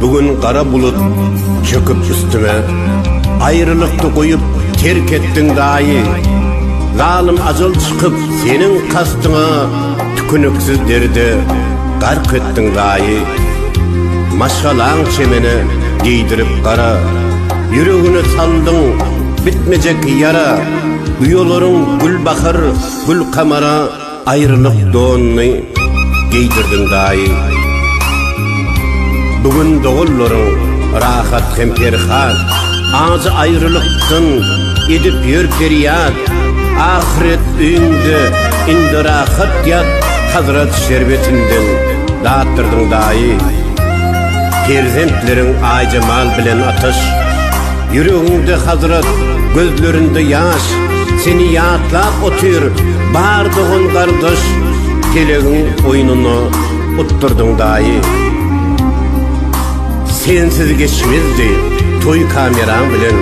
Bu gün gara bulut çöküp üstüme Aýrylykdy goýup terk etdiň daýy Zalym ajal çykyp seniň kastyňa Tüküniksiz derde gark etdiň daýy Maşgalaň çemene geýdirip gara Ýüregine saldyň bitmejek ýara Uýalaryň gül bahar gül kamara Aýrylyk donuny geýdirdiň daýy. Bu gün doganlaryň rahat hem perhat, Ajy aýrylykdan edip ýör perýat. Ahyret öýüňde indi rahat ýat, Hazrat şerbetinden datdyrdyň daýy. Perzentleriň Aýjemal bilen Ataş, Ýüregiňde hasrat, gözlerinde ýaş. Seni ýatlap otyr bar dogan gardaş Gelegiň oýnuna utdurdyň daýy Sensiz geçmezdi toý kameraň bilen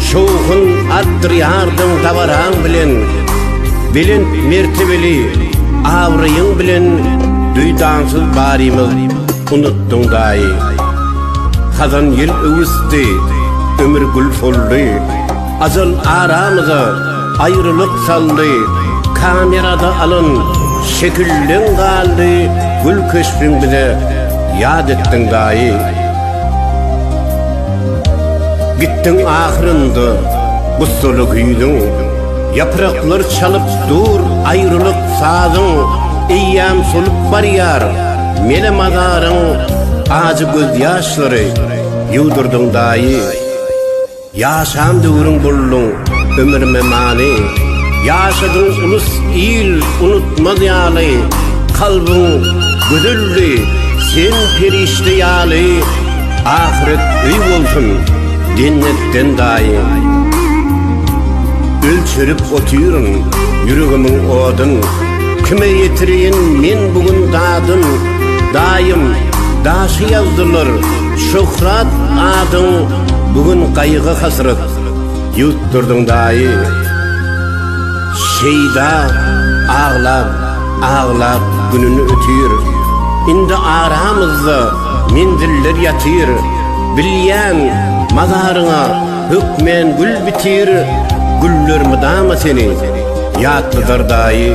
Şowhun atdyrýardyň dabaraň bilen Belent mertebeli awraýyň bilen Duýdansyz barymyz unutdyň daýy Hazan ýel öwüsdi ömür gül soldy Ajal aramyza aýrylyk saldy, Kamerada alan şekilleň galdy, Gül keşbiň bize ýat etdiň daýy. Gitdiň ahyrynda gussaly güýzüň, Ýapraklar çalyp dur aýrylyk sazyň, Eýýam solup barýar mele mazaryň, Ajy gözýaşlary ýuwdurdyň daýy. Ýaşan döwrüň bolduň ömrüme many, Ýaşadyň ulus il unutmaz ýaly, Kalbyň gözeldi, sen perişde ýaly, Ahyret öý bolsun, jennetden daýy. Ölçerip otyryn ýüregimiň odun, Kime ýetireýin men bu gün dadyn, Daýym, daşy ýazdylar, Şöhrat adyň bu gün gaýgy hasrat ýutdurdyň daýy Şeýda aglap aglap gününi ötýr Indi aramyzda menziller ýatyr Bilýän mazaryňa hökmän gül bitir Güller mydama seni ýatladar daýy.